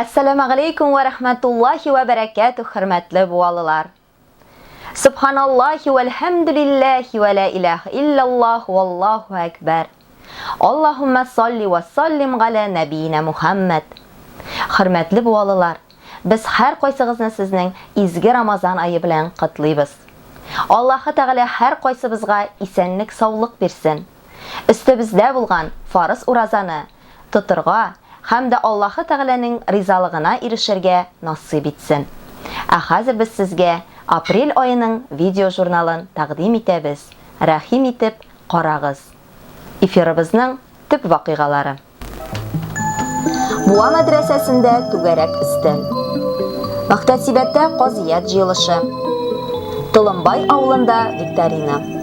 Әссәләмәгаләйкүм вә рәхмәтуллаһи вә бәрәкәтүһ хөрмәтле буалылар! Сөбханаллаһи вә әлхәмдүлилләһи вә лә иләһә илләллаһ вә Аллаһу әкбәр! Аллаһуммә салли вә саллим галә нәбиинә Мухәммәд! Хөрмәтле буалылар, без һәркайсыгызны сезнең изге Рамазан ае белән котлыйбыз! Аллаһы Тәгалә һәркайсыбызга исәнлек-саулык бирсен! Өстебездә булган фарыз уразаны тотырга һәм дә Аллаһы Тәгаләнең ризалыгына ирешергә насыйп итсен. Ә хәзер без сезгә апрель аеның видеожурналын тәкъдим итәбез, рәхим итеп карагыз. Эфирыбызның төп вакыйгалары. Буа мәдрәсәсендә түгәрәк өстәл. Мөхтәсибәттә казыять җыелышы. Толымбай авылында викторина.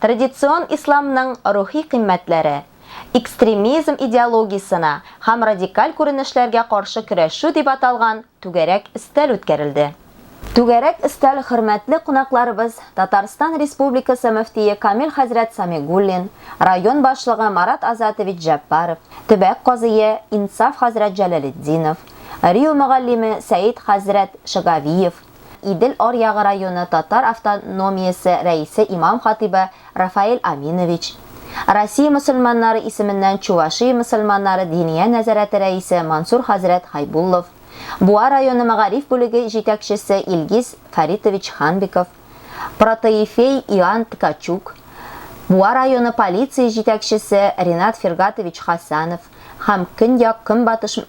Традицион исламның рухи кыйммәтләре, экстремизм идеологиясенә һәм радикаль күренешләргә каршы көрәшү дип аталган түгәрәк өстәл үткәрелде. Түгәрәк өстәл хөрмәтле кунакларыбыз Татарстан Республикасы мөфтие Камил хәзрәт Самигуллин, район башлыгы Марат Азатович Җәббаров, төбәк казые Инсаф хәзрәт Җәләлетдинов, РИУ мөгаллиме Сәет хәзрәт Шөгавиев, Идел аръягы районы татар автономиясе рәисе имам-хатыйбы Рафаэль Аминович, Россия мөселманнары исеменнән Чувашия мөселманнары диния нәзарәте рәисе Мансур хәзрәт Хайбуллов, Буа районы мәгариф бүлеге җитәкчесе Илгиз Фәритович Ханбиков, протоифей Иоанн Ткачук, Буа районы полиция җитәкчесе Ринат Фиргатович Хасанов һәм Көньяк-Көнбатыш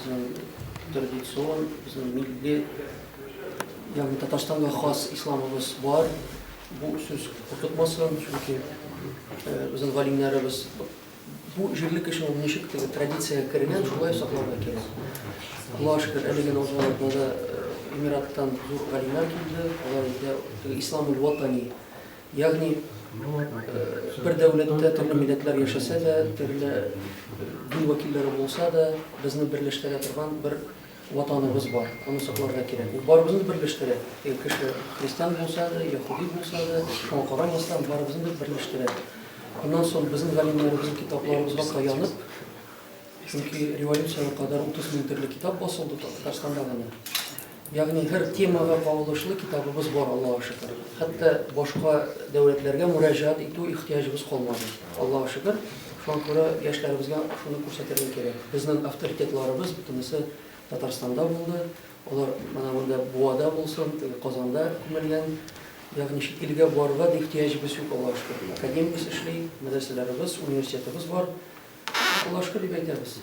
Безнең традицион, безнең милли, ягъни Татарстанга хас исламыбыз бар. Бу сүз куркытмасын, чөнки безнең галимнәребез бу җирле кеше ул ничек теге традициягә кергән, шулай сакларга кирәк. Аллаһ шөкер, әлеге Наузалатна да Эмираттан зур галимнәр килде. Алар инде ислам ватани Ягъни, бер дәүләттә төрле милләтләр яшәсә дә, төрле дин вәкилләре булса да, безне берләштерә торган бер Ватаныбыз бар, аны сакларга кирәк. Бу барыбызны да берләштерә. Егер кеше христиан булса да, яһүди булса да, шуңа карамастан, барыбызны да берләштерә. Аннан соң безнең галимнәребезнең китапларыбызга таянып, чөнки революциягә кадәр 30 мең төрле китап басылды Татарстанда гына. Ягъни һәр темага кагылышлы китабыбыз бар, Аллага шөкер. Хәтта башка дәүләтләргә мөрәҗәгать итү ихтыяҗыбыз калмады. Аллага шөкер. Шуңа күрә яшьләребезгә шуны күрсәтергә кирәк. Безнең авторитетларыбыз бөтенесе Татарстанда булды. Алар менә монда Буада булсын, теге Казанда күмелгән. Ягъни чит илгә барырга да ихтыяҗыбыз юк, Аллага шөкер. Академиябез эшли, мәдрәсәләребез, университетыбыз бар. Укулашка дип әйтәбез.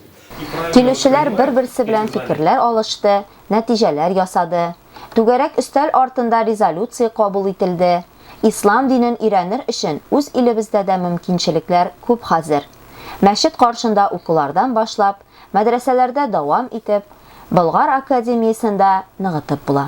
Килүчеләр бер-берсе белән фикерләр алышты, нәтиҗәләр ясады. Түгәрәк өстәл артында резолюция кабул ителде. Ислам динен өйрәнер өчен үз илебездә дә мөмкинчелекләр күп хәзер. Мәчет каршында укулардан башлап, мәдрәсәләрдә дәвам итеп, Болгар академиясендә ныгытып була.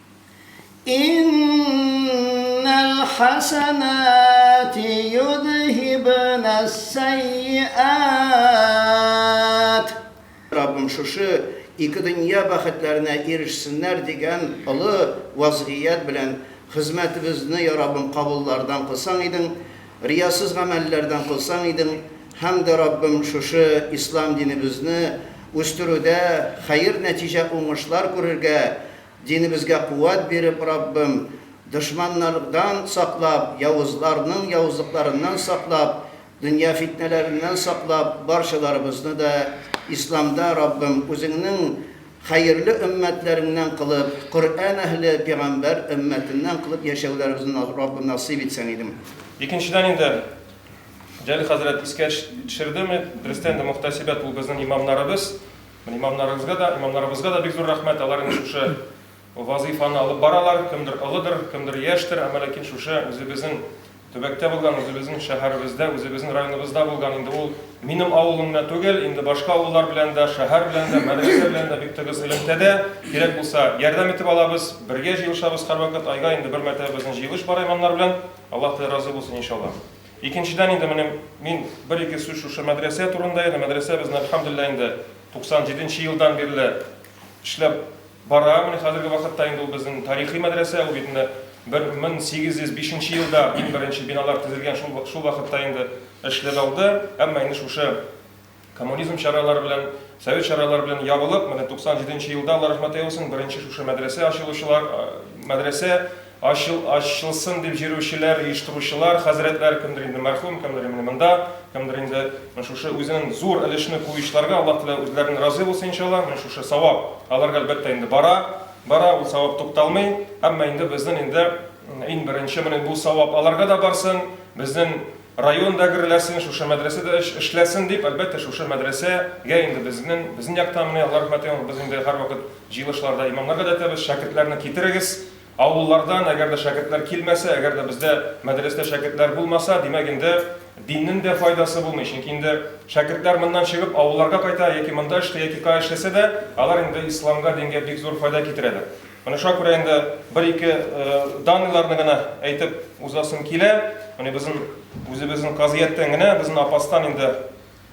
Иннәл хәсәнәти йөдһибнәс-сәйиәт. Раббым шушы ике дөнья бәхетләренә ирешсеннәр дигән олы вазгыять белән хезмәтебезне, йа Раббым, кабуллардан кылсаң идең, риясыз гамәлләрдән кылсаң идең һәм дә, Раббым, шушы Ислам динебезне үстерүдә хәер нәтиҗә уңышлар күрергә Динебезгә куәт биреп, Раббым, дошманнардан саклап, явызларның явызлыкларыннан саклап, дөнья фитнәләреннән саклап, барчаларыбызны да Исламда, Раббым, Үзеңнең хәерле өммәтләреңнән кылып, Коръән әһле, пигамбәр өммәтеннән кылып яшәүләребезне, Раббым, насыйп итсәң идем. Икенчедән инде, Җәлил хәзрәт искә төшерде, дөрестән дә, мөхтәсибәт ул безнең имамнарыбыз. Имамнарыгызга да, имамнарыбызга да бик зур рәхмәт, алар инде шушы вазыйфаны алып баралар, кемдер олыдыр, кемдер яшьтер, әмма ләкин шушы үзебезнең төбәктә булган, үзебезнең шәһәребездә, үзебезнең районыбызда булган инде ул минем авылым гына түгел, инде башка авыллар белән дә, шәһәр белән дә, мәдрәсә белән дә бик тыгыз элемтәдә, кирәк булса, ярдәм итеп алабыз, бергә җыелышабыз һәрвакыт, айга инде бер мәртәбә безнең җыелыш бар имамнар белән, Аллаһ Тәгалә разый булсын, иншаллаһ. Икенчедән инде менем мин бер-ике сүз шушы мәдрәсә турында янә мәдрәсә безне әлхәмдүлилләһ инде 97 нче елдан бирле эшләп бара менә хәзерге вакытта инде ул безнең тарихи мәдрәсә ул бит менә 1805 нче елда иң беренче биналар төзелгән шул шул вакытта инде эшләп алды әмма инде шушы Коммунизм чаралары белән, совет чаралары белән ябылып, менә 97 нче елда, Алла рәхмәт әйосын, беренче шушы мәдрәсә ачылучылар, мәдрәсә ачыл, ачылсын дип җөрүчеләр, оештыручылар, хәзрәтләр, кемдер инде мәрхүм, кемдер инде монда, кемдер инде шушы үзенең зур өлешне куючыларга, Аллаһ Тәгалә үзләреннән разый булсын, иншалла, менә шушы савап аларга әлбәттә инде бара, бара, ул савап тукталмый, әмма инде безнең инде иң беренче менә бу савап аларга да барсын, безнең Район да гөрләсен, шушы мәдрәсә дә эшләсен дип, әлбәттә, шушы мәдрәсә гә инде безнең, безнең яктан менә, Алла рәхмәте яусын, без инде һәрвакыт җыелышларда имамнар да әйтәбез, шәкертләрне китерегез авыллардан, әгәр дә шәкертләр килмәсә, әгәр дә бездә мәдрәстә шәкертләр булмаса, димәк инде диннең дә файдасы булмый, чөнки инде шәкертләр моннан чыгып авылларга кайта, яки монда эшли, яки кая эшләсә дә, алар инде исламга, дингә бик зур файда китерәләр. Менә шуңа күрә инде бер-ике данныйларны гына әйтеп узасым килә. Менә безнең үзебезнең казияттән генә безнең апастан инде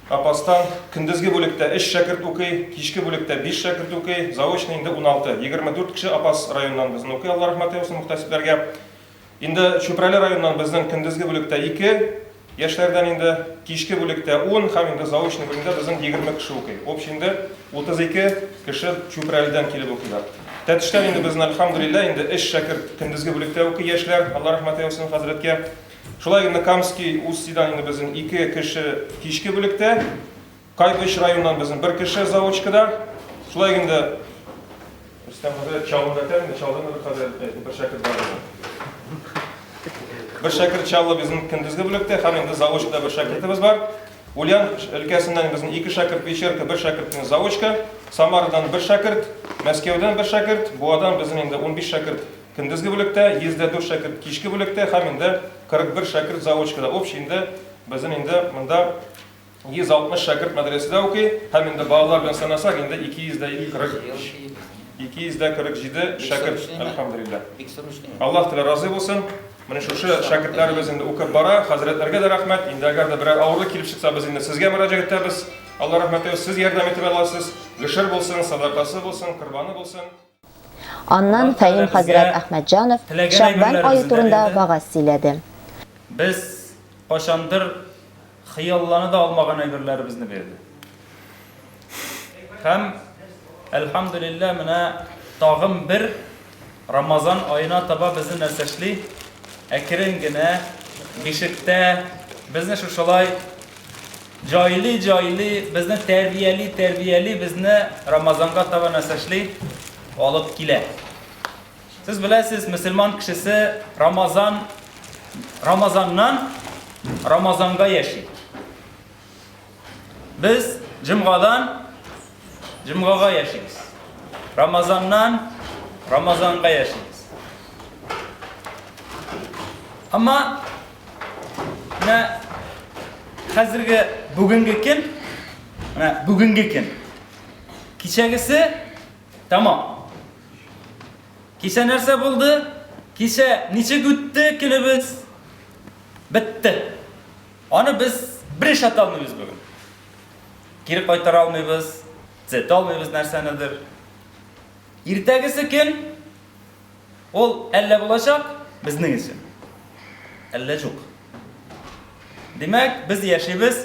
апастан көндезге бүлектә 3 шәкерт укый, кичке бүлектә 5 шәкерт укый, заочный инде 16, 24 кеше апас районнан безне укый, Алла рәхмәт яусын мөхтәсибләргә. Инде Чүпрәле районыннан безнең көндезге бүлектә ике яшьләрдән инде, кичке бүлектә ун һәм инде заочный бүлемдә безнең егерме кеше укый. Общий инде утыз ике кеше Чүпрәледән килеп укыйлар. Тәтештән инде безнең, әлхәмдүлилләһ, инде өч шәкерт көндезге бүлектә укый яшьләр, Алла рәхмәт яусын хәзрәткә. Шулай инде Камский УСТИдан инде безнең ике кеше кичке бүлектә. Кайбыч районыннан безнең бер кеше заочка да. Шулай гын да Рөстәм хәзрәт чалым да тән, чалым да хәзер бер шәкерт бар иде. Бер шәкерт чаллы безнең көндезге бүлектә, һәм инде заочка да бер шәкертебез бар. Ульян өлкәсеннән безнең ике шәкерт Печерка, бер шәкерт безнең заочка, Самарадан бер шәкерт, Мәскәүдән бер шәкерт, Буадан безнең инде 15 шәкерт көндезге бүлектә, 104 шәкерт кичке бүлектә һәм инде 41 шәкерт заочкада. Общий инде безнең инде монда 160 шәкерт мәдрәсәдә укый һәм инде балалар белән санасак, инде 247 шәкерт, әлхәмдулиллаһ. Аллаһ Тәгалә разый булсын. Менә шушы шәкертләребез инде укып бара. Хәзрәтләргә дә рәхмәт. Инде әгәр дә берәр авырлык килеп чыкса, без инде сезгә мөрәҗәгать итәбез. Алла рәхмәте, сез ярдәм итеп аласыз. Гөшер булсын, садакасы булсын, корбаны булсын. Аннан Фәим хәзрәт Әхмәтҗанов Шәгъбан ае турында вәгазь сөйләде. Без кайчандыр хыяллана да алмаган әйберләребезне бирде. Һәм, әлхәмдүлилләһ, менә тагын бер Рамазан аена таба безне нәрсә эшли? Әкрен генә бишектә безне шушылай Җайли җайли безне тәрбияли тәрбияли безне Рамазанга таба нәсәшли алып килә. Сез беләсез, мөселман кешесе Рамазан Рамазаннан Рамазанга яши. Без җомгадан җомгага яшибез. Рамазаннан Рамазанга яшибез. Әмма Менә хәзерге бүгенге көн, менә бүгенге көн. Кичәгесе тамам. Кичә нәрсә булды? Кичә ничек үтте көнебез? Бетте. Аны без бер эш ата алмыйбыз бүген. Кире кайтара алмыйбыз, төзәтә алмыйбыз нәрсәнедер. Иртәгесе көн Ул әллә булачак безнең өчен, әллә җук. Димәк, без яшибез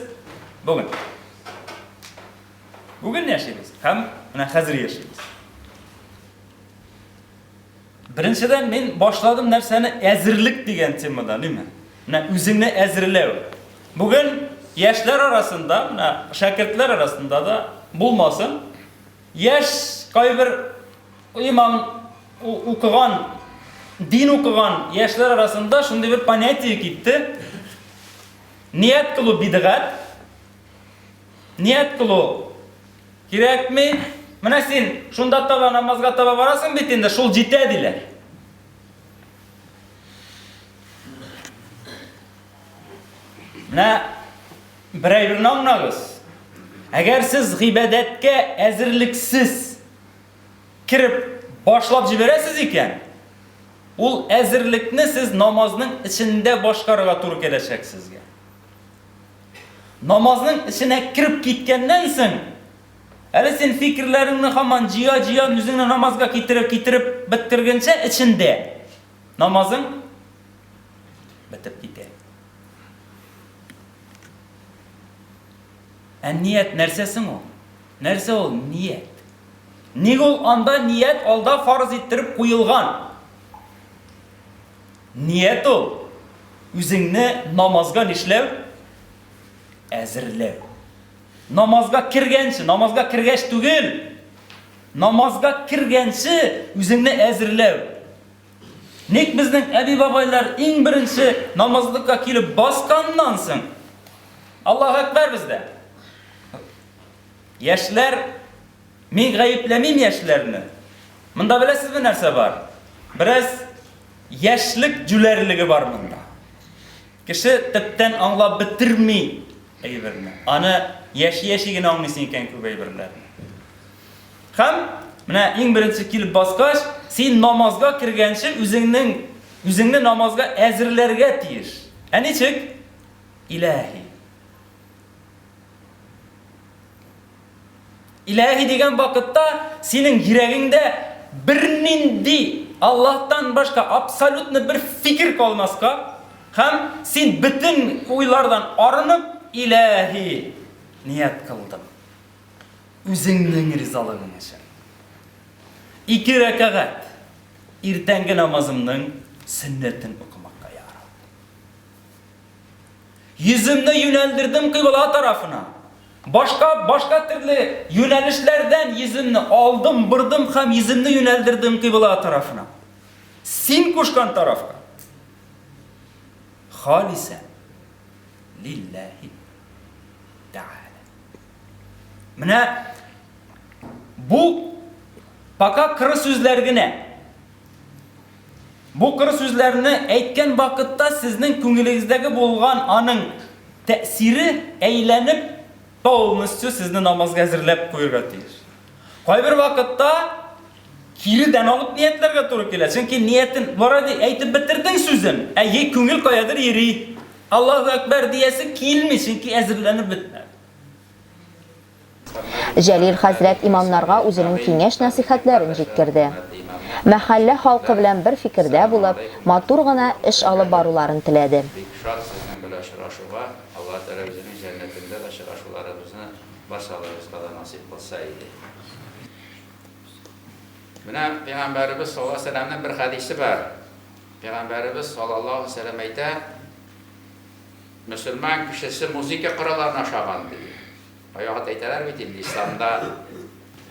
бүген. Бүген яшибез һәм менә хәзер яшибез. Беренчедән мин башладым нәрсәне әзерлек дигән темада, ниме? Менә үзеңне әзерләү. Бүген яшьләр арасында, менә шәкертләр арасында да булмасын, яшь кайбер Имам укыган, дин укыган яшьләр арасында шундый бер понятие китте. Ният кылу бидгат. Ният кылу кирәкми. Менә син шунда таба намазга таба барасың бит инде, шул җитә диләр. Менә бер әйберне аңлагыз. Әгәр сез гыйбадәткә әзерлексез кереп башлап җибәрәсез икән, ул әзерлекне сез намазның эчендә башкарырга туры киләчәк сезгә. Намазның эченә кереп киткәннән соң, әле син фикерләреңне хаман җыя-җыя үзеңне намазга китереп китереп беттергәнчә эчендә намазың бетеп китә. Ә ният нәрсә соң ул? Нәрсә ул ният? Ник ул анда ният алда фарыз иттереп куелган? Ният ул, үзеңне намазга нишләү? Әзерләү. Намазга кергәнче, намазга кергәч түгел, намазга кергәнче үзеңне әзерләү. Ник безнең әби-бабайлар иң беренче намазлыкка килеп басканнан соң, Аллаһу әкбәр бездә. Яшьләр, мин гаепләмим яшьләрне. Монда беләсезме нәрсә бар? Бераз яшьлек җүләрлеге бар монда. Кеше төптән аңлап бетерми әйберне. Аны яши-яши генә аңлыйсың икән күп әйберләрне. Һәм менә иң беренче килеп баскач, син намазга кергәнче үзеңнең үзеңне намазга әзерләргә тиеш. Ә ничек? Илаһи. Иләһи дигән вакытта синең йөрәгеңдә бернинди Аллаһтан башка абсолютно бер фикер калмаска һәм син бөтен уйлардан арынып, Иләһи, ният кылдым. Үзеңнең ризалыгың өчен. Ике рәкәгать иртәнге намазымның сөннәтен укымакка, я Рабб. Йөземне юнәлдердем кыйбла тарафына. Башка, башка төрле юнәлешләрдән йөземне алдым, бордым һәм йөземне юнәлдердем кыйбла тарафына. Син кушкан тарафка. Халисә. Лилләһи. Тәгалә. Менә бу пока кыры сүзләр генә. Бу кыр сүзләрне әйткән вакытта сезнең күңелегездәге булган аның тәэсире әйләнеп, полностью сезне намазга әзерләп куерга тиеш. Кайбер вакытта кире дән алып ниятләргә туры килә, чөнки ниятен бара ди, әйтеп бетердең сүзен, ә е күңел каядыр йөри, Аллаһу әкбәр диясе килми, чөнки әзерләнеп бетмәде. Җәлил хәзрәт имамнарга үзенең киңәш-нәсыйхәтләрен җиткерде. Мәхәллә халкы белән бер фикердә булып, матур гына эш алып баруларын теләде. Бик шат сезнең белән очрашуга, Алла Тәгалә үзенең җәннәтендә очрашуларыбызны барчаларыбызга да насыйп кылса иде. Менә Пәйгамбәребез саллаллаһу галәйһи ва сәлләмнең бер хәдисе бар. Пәйгамбәребез саллаллаһу галәйһи ва сәлләм әйтә. Мөселман кешесе музыка коралларына ошаган, ди. Кайвакыт әйтәләр бит инде, исламда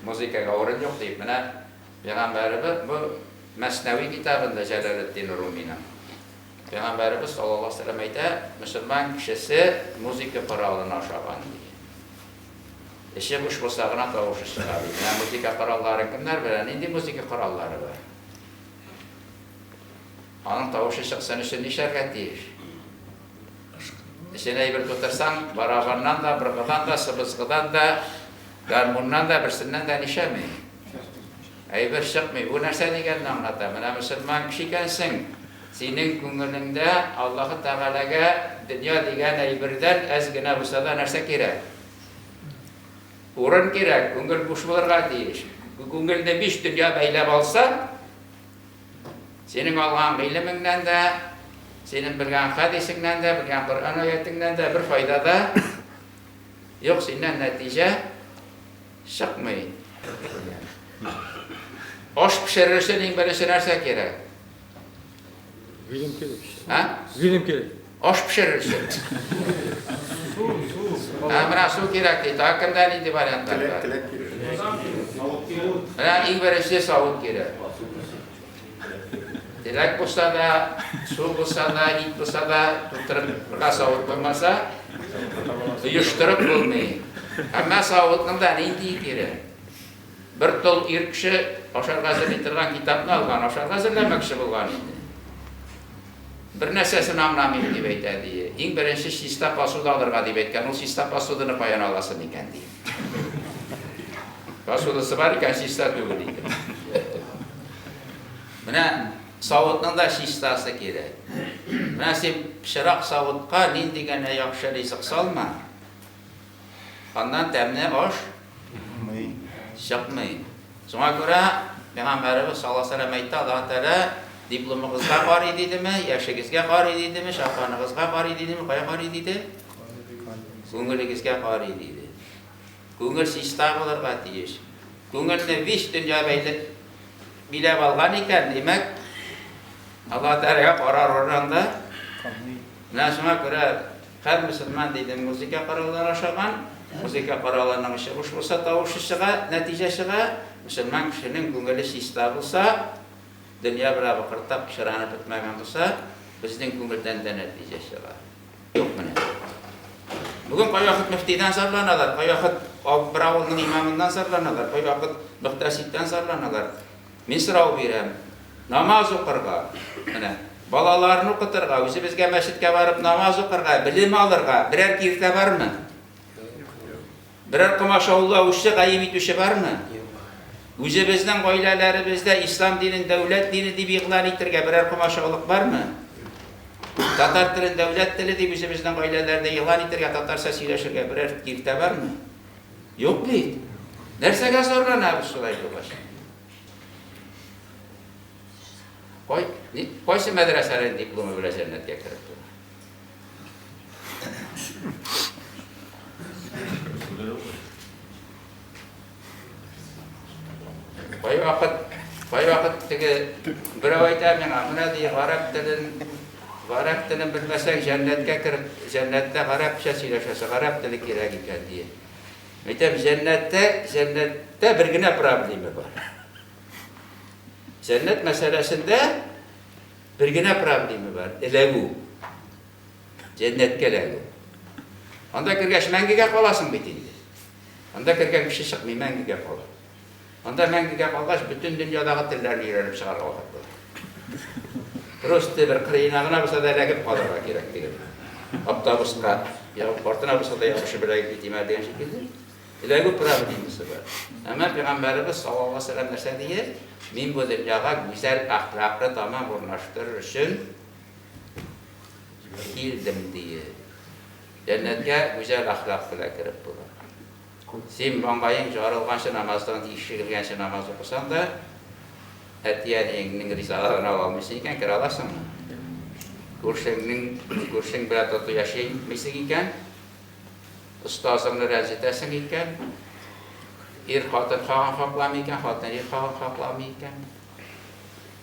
музыкага урын юк, дип. Менә Пәйгамбәребез бу Мәснәви китабында Җәләлетдин Руминың. Пәйгамбәребез саллаллаһу алейһи ва сәлләм әйтә, мөселман кешесе музыка коралына ошаган, ди. Эче буш булса гына тавышы чыга, ди. Менә музыка коралларын кемнәр белә? Нинди музыка кораллары бар? Аның тавышы чыксын өчен нишләргә тиеш? Эченә әйбер тутырсаң, барабаннан да, быргыдан да, сыбызгыдан да, гармуннан да, берсеннән дә нишәми. Әйбер чыкмый. Бу нәрсә дигәнне аңлата. Менә мөселман кеше икәнсең, синең күңелеңдә Аллаһы Тәгаләгә дөнья дигән әйбердән әз генә булса да нәрсә кирәк? Урын кирәк, күңел буш булырга тиеш. Күңелне биш дөнья бәйләп алса, Синең алган гыйлемеңнән дә, синең белгән хәдисеңнән дә, белгән Коръән аятеңнән дә бер файда да юк, синнән нәтиҗә чыкмый, дигән. Аш пешерер өчен иң беренче нәрсә кирәк? Гыйлем кирәк. Ә? Гыйлем кирәк. Аш пешерерсең. Су, су. Ә менә су кирәк ди. Тагы кемдә нинди вариантлар бар? Келәт, келәт кирәк. Сазан кирәк. Савыт кирәк. Менә иң беренче савыт кирәк. Келәт булса да, су булса да, ит булса да, тутырырга савыт булмаса, оештырып булмый. Ә менә савытның да ниндие кирәк? Бер тол ир кеше ашарга әзерли торган китапны алган, ашарга әзерләмәкче булган инде. Бернәрсәсен аңламыйм, дип әйтә, ди. Иң беренче чиста посуда алырга дип әйткән. Ул чиста посуданы каян аласы микән, ди. Посудасы бар икән, чиста түгел икән. Менә савытның да чистасы кирәк. Менә син пычрак савытка нинди генә яхшы ризык салма, Аннан тәмне аш Чыкмый. чыкмый. Шуңа күрә Пәйгамбәребез саллаллаһу алейһи ва сәлләм әйтте, Аллаһы Тәгалә дипломыгызга карый дидеме, яшегезгә карый дидеме, чапаныгызга карый дидеме, кая карый диде? Күңелегезгә карый диде. Күңел чиста булырга тиеш. Күңелне биш дөнья бәйле биләп алган икән, димәк, Аллаһы Тәгаләгә карар урынында Камый. Менә шуңа күрә Һәр мөселман диде музыка кораллары ашаган, музыка коралының очы буш булса тавышы чыга, нәтиҗә чыга, мөселман кешенең күңеле чиста булса, дөнья белән выкыртап пычранып бетмәгән булса, безнең күңелдән дә нәтиҗә чыга. Юк менә. Бүген кайвакыт мөфтидән зарланалар, кайвакыт бер авылның имамыннан зарланалар, кайвакыт мөхтәсибтән зарланалар. Мин сорау бирәм, намаз укырга, менә, балаларын укытырга, үзебезгә мәчеткә барып намаз укырга, белем алырга берәр киртә бармы? Берәр комашаулы аучы гаим итүче бармы? Үзебезнең гаиләләребездә ислам динен дәүләт дине дип игълан итергә берәр комашаулык бармы? Татар телен дәүләт теле дип үзебезнең гаиләләрдә игълан итергә, татарча сөйләшергә берәр киртә бармы? Юк бит. Нәрсәгә зарланабыз шулай булгач? Кай, ни, кайсы мәдрәсәнең дипломы белән җәннәткә кереп тора? Кайвакыт, кайвакыт теге берәү әйтә миңа, менә ди, гарәп телен Гарәп телен белмәсәң, җәннәткә кер, җәннәттә гарәпчә сөйләшәсе, гарәп теле кирәк икән, дие. Мәйтәм, җәннәттә, җәннәттә бер генә проблеме бар. Җәннәт мәсьәләсендә бер генә проблеме бар, эләгү. Җәннәткә эләгү. Анда кергәч мәңгегә каласың бит инде. Анда кергән кеше чыкмый, мәңгегә кала. Анда мәңгегә калгач, бөтен дөньядагы телләрне өйрәнеп чыгарга вакыт була. Рус теле бер кырыена гына булса да эләгеп калырга кирәк диген. Автобуска ягып картына булса да ябышып беләгеп китимә дигән шикелле. Эләгү правы димесе бар. Әмма пәйгамбәребез саллаллаһу алейһи ва сәлләм нәрсә дигән? Мин бу дөньяга гүзәл әхлаклы тамам урнаштырыр өчен килдем дигән. Җәннәткә гүзәл әхлак белән кереп була. Син маңгаең җарылганчы намаздан ис чигелгәнче намаз укысаң да, әти-әниеңнең ризалыгын ала алмыйсың икән, керә аласыңмы? Күршеңнең, күршең белән тату яшәмисең икән, остазыңны рәнҗетәсең икән, ир хатын хагын хакламый икән, хатын ир хагын хакламый икән,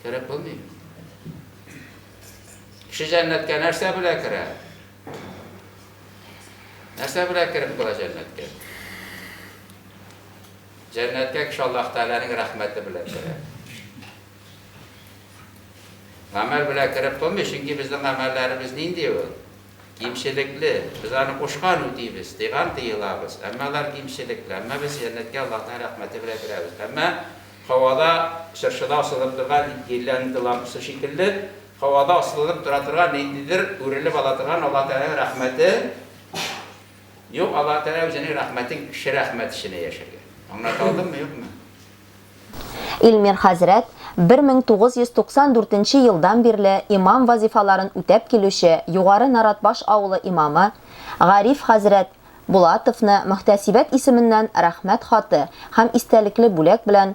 кереп булмый. Кеше җәннәткә нәрсә белән керә? Нәрсә белән кереп була җәннәткә? Җәннәткә кеше Аллаһ Тәгаләнең рәхмәте белән керә. Гамәл белән кереп булмый, чөнки безнең гамәлләребез нинди ул? Кимчелекле. Без аны кушкан үтибез, тыйган тыелабыз. Әмма алар кимчелекле. Әмма без җәннәткә Аллаһның рәхмәте белән керәбез. Әмма һавада чыршыда асылып торган гирлянда лампасы шикелле Һавада асылынып тора торган ниндидер үрелеп ала торган Аллаһ Тәгаләнең рәхмәте юк, Аллаһ Тәгалә үзенең рәхмәтен кеше рәхмәт эченә яшергән. Аңлата алдыммы, юкмы? Илмир хәзрәт, 1994 нче елдан бирле имам вазифаларын үтәп килүче Югары Наратбаш авылы имамы Гариф хәзрәт Булатовны мөхтәсибәт исеменнән Рәхмәт хаты һәм истәлекле бүләк белән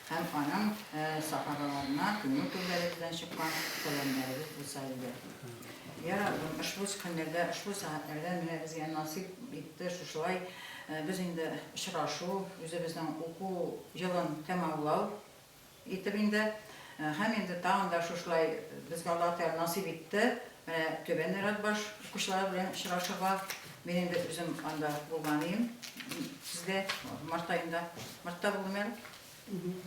Һәм аның сахабаларына күңел түрләре белән чыккан сәламнәребез булса иде. Йа Раббым, ошбу схеннәрдә, ошбу сәгатьләрдә менә безгә насыйп итте шушылай без инде очрашу, үзебезнең уку елын тәмамлау итеп инде. Һәм инде тагын да шушылай безгә Аллаһы Тәгалә насыйп итте менә Түбән Оратбаш укучылары белән очрашырга. Мин инде үзем анда булган идем. Сездә март аенда, мартта булдым әле.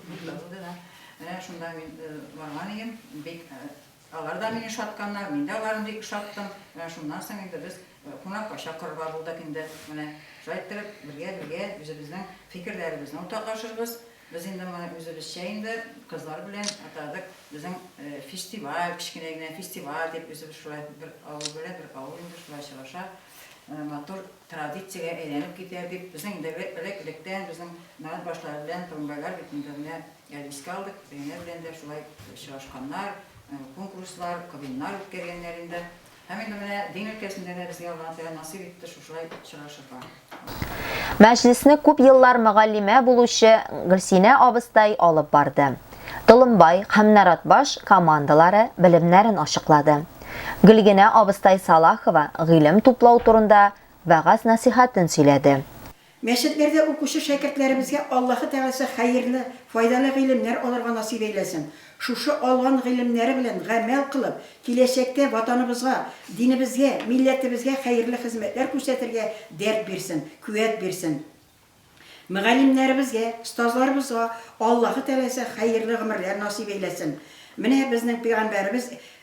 Мартта булды да. Менә шунда мин э, барган идем. Бик э, алар да мине шатканнар, мин дә аларны бик шаттым. Менә шуннан соң инде без э, кунакка чакырырга булдык инде. Менә шулай иттереп, бергә-бергә үзебезнең фикерләребезне уртаклашырбыз. Без инде моны үзебезчә инде кызлар белән атадык. Безнең фестиваль, кечкенә генә фестиваль дип, үзебез шулай бер авыл белән бер авыл инде шулай очраша. Матур традициягә әйләнеп китә дип, безнең инде элек-электән безнең мәгать башлары белән турымбайлар бит инде менә искә алдык, әнә белән дә шулай очрашканнар, конкурслар, квиннар үткәргәннәр инде. Һәм инде менә дин өлкәсендә дә безгә Аллаһы Тәгалә насыйп итте шушылай очрашырга. Мәҗлесне күп еллар мөгаллимә булучы Гөлсинә абыстай алып барды. Толымбай һәм Наратбаш командалары белемнәрен ачыклады. Гөлгенә абыстай Салахова гыйлем туплау турында вәгазь-нәсыйхәтен сөйләде. Мәчетләрдә укучы шәкертләребезгә Аллаһы Тәгаләсе хәерле, файдалы гыйлемнәр алырга насыйп әйләсен, шушы алган гыйлемнәре белән гамәл кылып, киләчәктә Ватаныбызга, динебезгә, милләтебезгә хәерле хезмәтләр күрсәтергә дәрт бирсен, куәт бирсен. Мөгаллимнәребезгә, остазларыбызга Аллаһы Тәгаләсе хәерле гомерләр насыйп әйләсен. Менә безнең пәйгамбәребез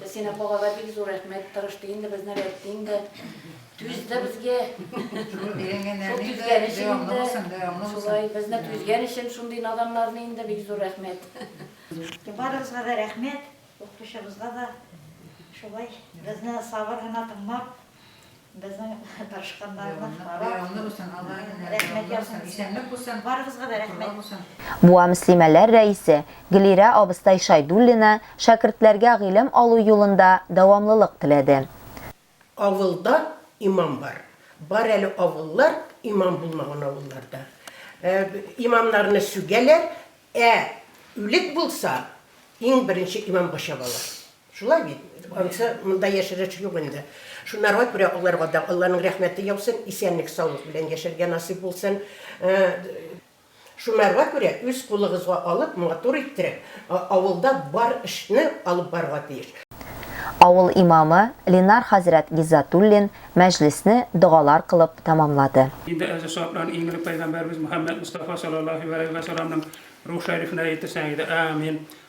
Без сине балага бик зур рәхмәт, тырышты инде безне рәттин дә, түзде безгә. Шул түзгән өчен инде, шулай безне түзгән өчен шундый наданнарны инде бик зур рәхмәт. Барыгызга да рәхмәт, укытучыбызга да шулай безне сабыр гына тыңлап. Безнең тырышканнарны карап, рәхмәт яусын сезгә. Барыгызга да рәхмәт. Буа мөслимәләр рәисе Гөлирә абыстай Шайдуллина шәкертләргә гыйлем алу юлында дәвамлылык теләде. Авылда имам бар. Бар әле авыллар, имам булмаган авылларда. Имамнарны сүгәләр, ә үлек булса, иң беренче имамга чабалар. Шулай бит, анысы монда яшереш юк инде. Шунарга күрә аларга да Алланың рәхмәте яусын, исәнлек-саулык белән яшәргә насыйп булсын. Шунарга күрә үз кулыгызга алып, матур иттереп, авылда бар эшне алып барырга тиеш. Авыл имамы Ленар хәзрәт Гиззатуллин мәҗлесне догалар кылып тәмамлады. Инде әзер сафланып, иң элек пәйгамбәребез Мөхәммәд Мостафа салаллаһи галәйһи вә сәламнең рух шәрифенә әйтерсең иде, Әәмин!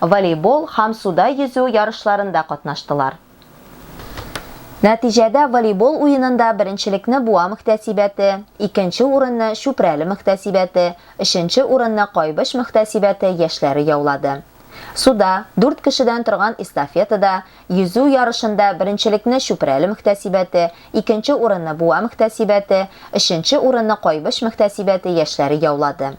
волейбол һәм суда йөзү ярышларында катнаштылар. Нәтиҗәдә волейбол уенында беренчелекне Буа мөхтәсибәте, икенче урынны Чүпрәле мөхтәсибәте, өченче урынны Кайбыч мөхтәсибәте яшьләре яулады. Суда, дүрт кешедән торган эстафетада, йөзү ярышында беренчелекне Чүпрәле мөхтәсибәте, икенче урынны Буа мөхтәсибәте, өченче урынны Кайбыч мөхтәсибәте яшьләре яулады.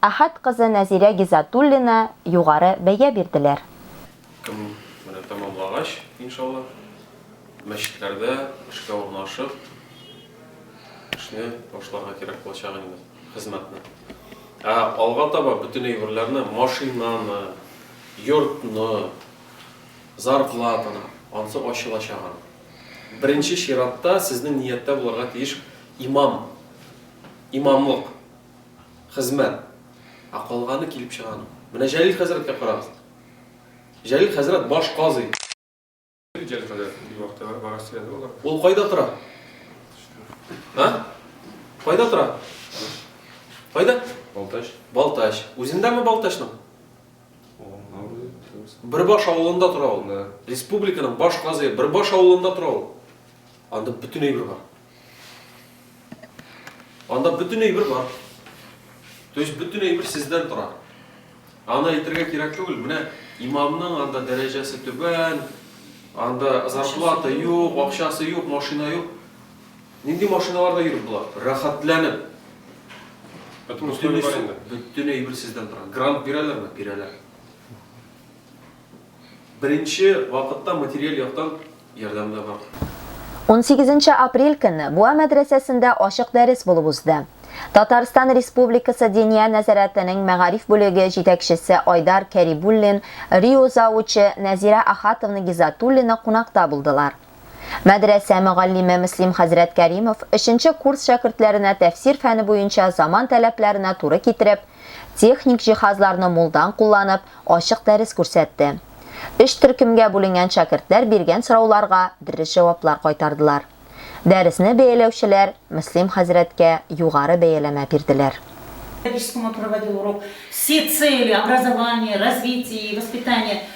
Әхәт кызы Нәзирә Гизатуллина югары бәя бирделәр. Км менә тәмамлагач, иншалла, мәчетләрдә эшкә урнашып, эшне башларга кирәк булачак инде, хезмәтне. Ә алга таба бөтен әйберләрне, машинаны, йортны, зарплатаны, ансы ачылачак аның. Беренче чиратта сезнең нияттә булырга тиеш имам, имамлык. хезмәт. Ә калганы килеп чыга аның. Менә Җәлил хәзрәткә карагыз. Җәлил хәзрәт баш казый. Җәлил хәзрәт бик вак тәбәр бара сөйләде алар. Ул кайда тора? А? Кайда тора? Кайда? Балтач. Балтач. Үзендәме Балтачның? Бөрбаш авылында тора ул. Республиканың баш казые Бөрбаш авылында тора ул. Анда бөтен әйбер бар. Анда бөтен әйбер бар. То есть бөтен әйбер сездән тора. Аны әйтергә кирәк түгел. Менә имамның анда дәрәҗәсе түбән, анда зарплата юк, акчасы юк, машина юк. Нинди машиналарда йөреп була? Рәхәтләнеп. Бөтен әйбер сездән тора. Грант бирәләрме? Бирәләр. Беренче вакытта материаль яктан ярдәм дә бар. Унсигезенче апрель көнне Буа мәдрәсәсендә ачык дәрес булып узды. Татарстан Республикасы Диния нәзарәтенең мәгариф бүлеге җитәкчесе Айдар Кәрибуллин, РИО завучы Нәзирә Ахатовна Гизатуллина кунакта булдылар. Мәдрәсә мөгаллиме Мөслим хәзрәт Кәримов өченче курс шәкертләренә тәфсир фәне буенча заман таләпләренә туры китереп, техник җиһазларны мулдан кулланып, ачык дәрес күрсәтте. Өч төркемгә бүленгән шәкертләр биргән сорауларга дөрес җаваплар кайтардылар. Дәресне бәяләүчеләр Мөслим хәзрәткә югары бәяләмә бирделәр. Периодическому проводил урок секции или образование, развитие и воспитание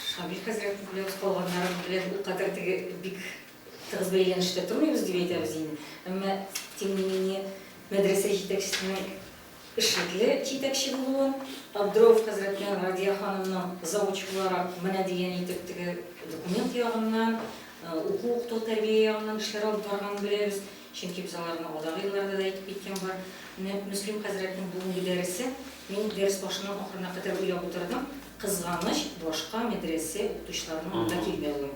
Шамил хәзрәтнең белән калганнарым белән ул кадәр теге бик тыгыз бәйләнештә тормыйбыз дип әйтәбез инде. Әмма тем не менее мәдрәсә җитәкчесенең эшлекле җитәкче булуын, Абдроов хәзрәтнең Радия ханымның завуч буларак менә дигән итеп теге документ ягыннан, уку-укыту тәрбия ягыннан эшләр алып барганын беләбез. Чөнки без аларны алдагы елларда да әйтеп киткән бар. Менә Мөслим хәзрәтнең бүгенге дәресе, мин дәрес башыннан ахырына кадәр уйлап утырдым. Кызганыч, башка мәдрәсә укытучыларының анда килмәве.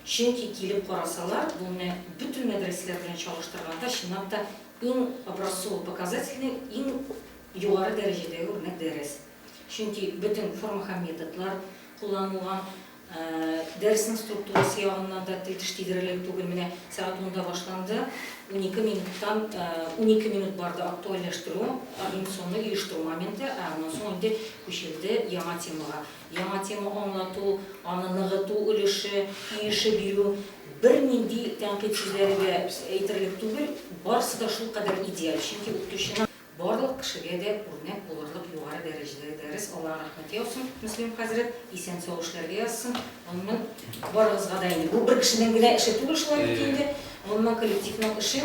Чөнки килеп карасалар, бу менә бөтен мәдрәсәләр белән чагыштырганда, чынлап та, иң образцово-показательный, иң югары дәрәҗәдәге үрнәк дәрес. Чөнки бөтен форма һәм методлар кулланылган, дәресенең структурасы ягыннан да тел-теш тидерерлек түгел. Менә сәгать унда башланды, унике минуттан унике минут барды актуальләштерү, агендационный оештыру моменты, ә аннан соң инде Күчелде яңа темага. Яңа тема аңлату, аны ныгыту өлеше, иеше бирү. Бернинди тәнкыйть сүзләре дә әйтерлек түгел, барысы да шулкадәр идеаль, чөнки укытучының барлык кешегә дә үрнәк булырлык югары дәрәҗәдәге дәрес, Аллаһы рәхмәте яусын, Мөслим хәзрәт, исән-сау эшләргә язсын, гомумән, барыгызга да инде, бу бер кешенең генә эше түгел шулай ук инде, гомумән, коллективның эше.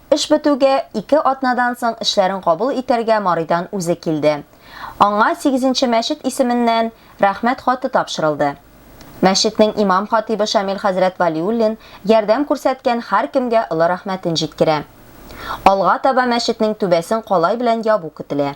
Эш бетүгә, ике атнадан соң эшләрен кабул итәргә Марыйдан үзе килде. Аңа Сигезенче мәчет исеменнән Рәхмәт хаты тапшырылды. Мәчетнең имам-хатыйбы Шамил хәзрәт Вәлиуллин ярдәм күрсәткән һәркемгә олы рәхмәтен җиткерә. Алга таба мәчетнең түбәсен калай белән ябу көтелә.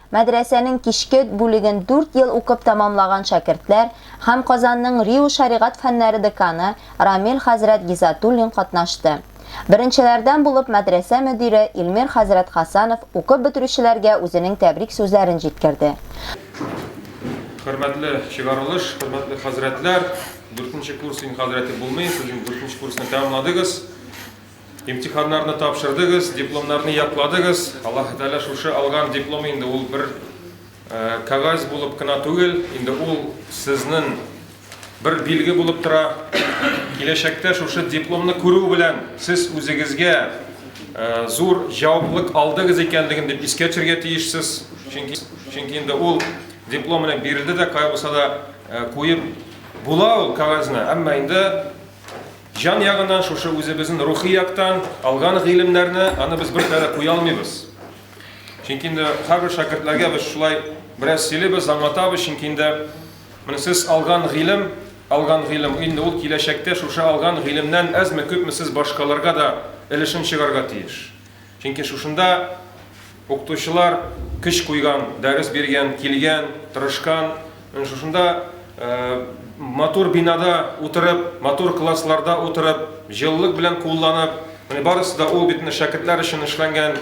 Мәдрәсәнең кичке бүлеген дүрт ел укып тәмамлаган шәкертләр һәм Казанның РИУ шәригать фәннәре деканы Рамил хәзрәт Гизатуллин катнашты. Беренчеләрдән булып мәдрәсә мөдире Илмир хәзрәт Хәсәнов укып бетерүчеләргә үзенең тәбрик сүзләрен җиткерде. Хөрмәтле чыгарылыш, хөрмәтле хәзрәтләр! Дүртенче курс инде хәзрәте булмый, сез инде дүртенче курсны тәмамладыгыз. Имтиханнарны тапшырдыгыз, дипломнарны якладыгыз. Аллаһы Тәгалә шушы алган диплом инде ул бер кәгазь булып кына түгел, инде ул сезнең бер билге булып тора. Киләчәктә шушы дипломны күрү белән сез үзегезгә э, зур җаваплылык алдыгыз икәнлеген дип искә төшерергә тиешсез. Чөнки чөнки инде ул диплом белән бирелде дә, кая булса да э, куеп була ул кәгазьне, әмма инде Җан ягыннан шушы үзебезнен рухи яктан алган гыйлемнәрне аны без бер кара куя алмыйбыз. Чөнки инде һәрбер шәкертләргә без шулай бераз сөйлибез, аңлатабыз, чөнки инде менә сез алган гыйлем, алган гыйлем инде ул киләчәктә шушы алган гыйлемнән әзме күпме сез башкаларга да өлешен чыгарга тиеш. Чөнки шушында укытучылар көч куйган, дәрес биргән, килгән, тырышкан. Менә шушында матур бинада утырып, матур классларда утырып, җылылык белән кулланып, менә барысы да ул бит менә шәкертләр өчен эшләнгән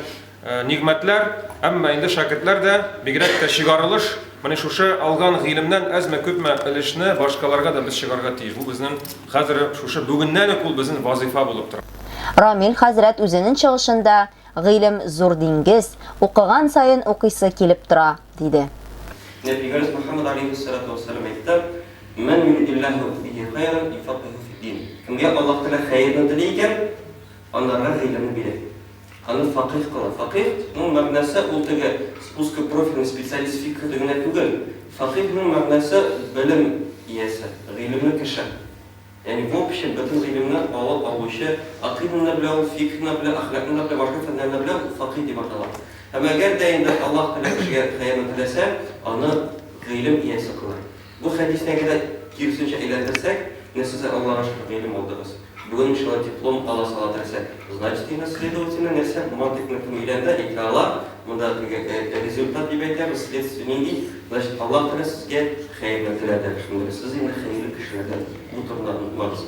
нигъмәтләр. Әмма инде шәкертләр дә, бигрәк тә чыгарылыш, Менә шушы алган гыйлемнән әзме-күпме өлешне башкаларга да без чыгарга тиеш. Бу безнең хәзер шушы бүгеннән үк ул безнең вазыйфа булып тора. Рамил хәзрәт үзенен чыгышында Гыйлем зур диңгез, укыган саен укыйсы килеп тора, диде. Нәбигамыз Мөхәммәд алейһиссәлатү вәссәлам әйтте, Мән юридилләһү бихи хәйрән юфәккихү фиддин, Кемгә Аллаһ Тәгалә хәерне тели икән, анарга гыйлемне бирә. Аны факыйһ кыла. Факыйһ ның мәгънәсе ул теге спуска профильный специалист фикһеде генә түгел. Факыйһ ның мәгънәсе белем иясе, гыйлемле кеше. Ягъни в общем бөтен гыйлемне алып алучы, акыйданы да белә ул, фикһны да белә, әхлакны да белә, башка фәннәрне дә белә, ул факыйһ дип атала. Һәм әгәр дә инде Аллаһ Тәгалә кешегә хәерне теләсә, аны гыйлем иясе кыла. Бу хәдисне генә киресенчә әйләндерсәк, менә сез дә Аллага шөкер гыйлем алдыгыз, бүген иншалла диплом ала сала дөресрәк, значит инде следовательно нәрсә, мантыйкны кем өйрәнде, әйтә ала, монда теге результат дип әйтәбез, следствие нинди, значит Аллаһ Тәгалә сезгә хәерне теләде, шундый сез инде хәерле кешеләрдән, бу турыны онытмагыз.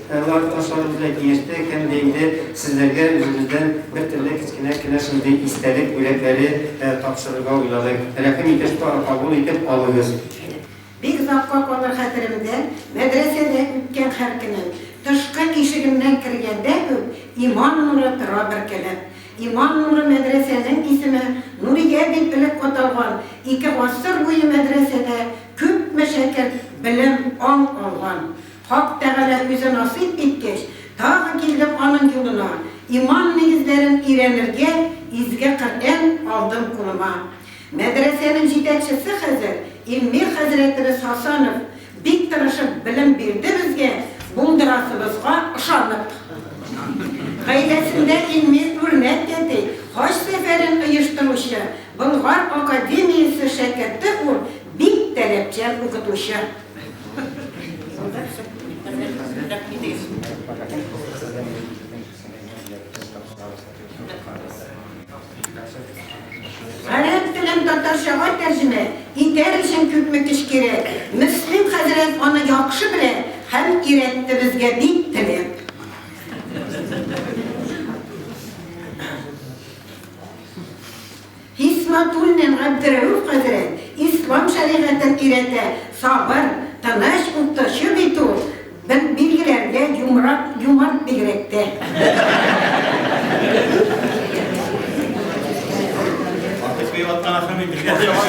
Әнвар Ташаров белән килеште һәм дә инде сезләргә үзебездән бер төрле кечкенә кенә шундый истәлек бүләкләре тапшырырга уйладык. Рәхим итеп кабул итеп алыгыз. Бик озакка калыр хәтеремдә, мәдрәсәдә үткән һәр көнем. Тышкы ишегемнән кергәндә үк иман нуры тора бөркелеп. Иман нуры мәдрәсәнең исеме Нурия дип элек аталган, ике гасыр буе мәдрәсәдә күпме шәкерт белем, аң алган. Хак Тәгалә үзе насыйп иткәч, тагы килдем аның юлына, иман нигезләрен өйрәнергә изге Коръән алдым кулыма. Мәдрәсәнең җитәкчесе хәзер Илмир хәзрәтебез Хасанов бик тырышып белем бирде безгә, булдырасыбызга ышанып. Гаиләсендә Илмир үрнәк тәти, хаҗ сәфәрен оештыручы, Болгар академиясе шәкерте ул, бик таләпчән укытучы. Гарәп телен татарчага тәрҗемә итәр өчен күпме көч кирәк? Мөслим хәзрәт аны яхшы белә һәм өйрәтте безгә бик теләп. Хисматуллин Габдерәүф хәзрәт, Ислам шәригатен өйрәтә, сабыр, тыныч, укытучы бит ул, билгеләргә юмрак, юмарт бигрәк тә. Артык бик атланасың бит, билгеләр яман.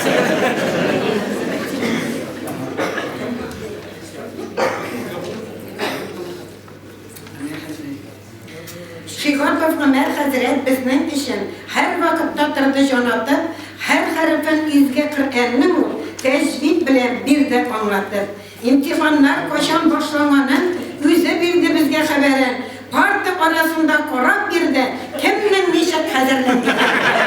Шиһапов Гомәр хәзрәт безнең өчен һәрвакытта торды җан атып, һәр хәрефен изге Коръәннең ул тәҗвид белән бирде аңлатып. Имтиханнар кайчан башланганын үзе бирде безгә хәбәрен, парта арасында карап бирде, кемнең ничек хәзерләнгәнен.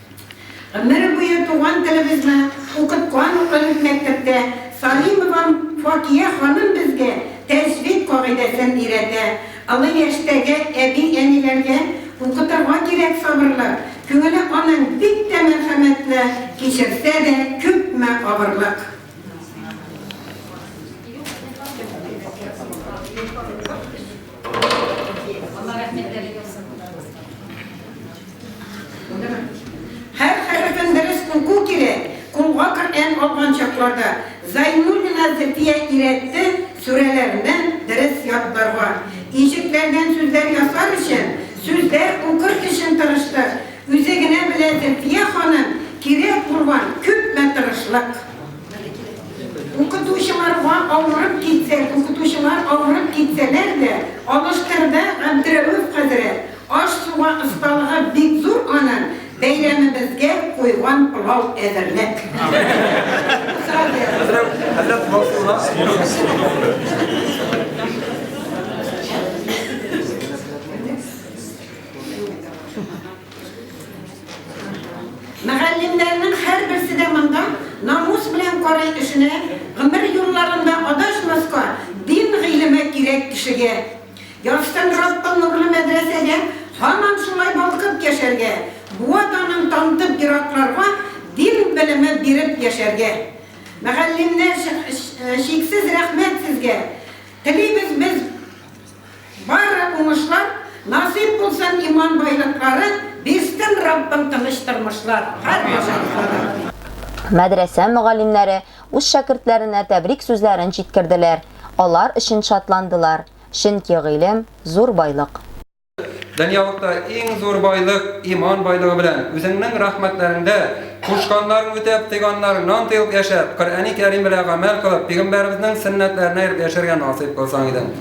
Гомере буе туган телебезне укыткан ул элек мәктәптә. Салимовам Факия ханым безгә тәҗвид кагыйдәсен өйрәтә. Олы яшьтәге әби-әниләргә укытырга кирәк сабырлык. Күңеле аның бик тә мәрхәмәтле, кичерсә дә, күпме авырлык. Һәр хәрефен дөрес уку кирәк. Кулга Коръән алган чакларда Зайнуллина Зөфия өйрәтте, сүрәләрдән дөрес ятларга. Ишекләрдән сүзләр ясар өчен, сүзләр укыр өчен тырыштык. Үзе генә белә Зөфия ханым, кирәк булган күпме тырышлык. Укытучылар авырып китсә, укытучылар авырып китсәләр дә, алыштырда Габдрәүф хәзрәт, аш-суга осталыгы бик зур аның, бәйрәмебезгә куйган пылау әзерләп. Мөгаллимнәрнең һәрберсе дә монда намус белән карый эшенә, гомер юлларында адашмаска, дин гыйлеме кирәк кешегә. Язсын Раббым нурлы мәдрәсәгә һаман шулай балкып яшәргә, буа данын тантып еракларга дин белеме биреп яшәргә. Мөгаллимнәр, чиксез рәхмәт сезгә телибез без! Бары уңышлар, насыйп булсын иман байлыклары, бирсен Раббым тыныч тормышлар һәр башаклары. Мәдрәсә мөгаллимнәре үз шәкертләренә тәбрик сүзләрен җиткерделәр, алар өчен шатландылар, чөнки гыйлем, зур байлык. Дөньялыкта иң зур байлык, иман байлыгы белән, үзеңнең рәхмәтләреңдә, кушканнарын үтәп, тыйганнарыңнан тыелып яшәп, Коръәни Кәрим белән гамәл кылып, пигамбәребезнең сөннәтләренә ияреп яшәргә насыйп кылсаң иде.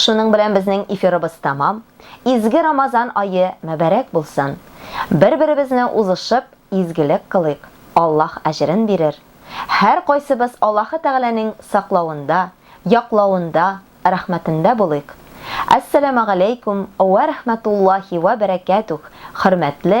Шуның белән безнең эфирыбыз тәмам. Изге Рамазан ае мөбарәк булсын! Бер-беребезне узышып, изгелек кылыйк, Аллаһ әҗерен бирер. Һәркайсыбыз Аллаһы Тәгаләнең саклавында, яклавында, рәхмәтендә булыйк. Әссәламәгаләйкүм вә рәхмәтуллаһи вә бәрәкәтүх, хөрмәтле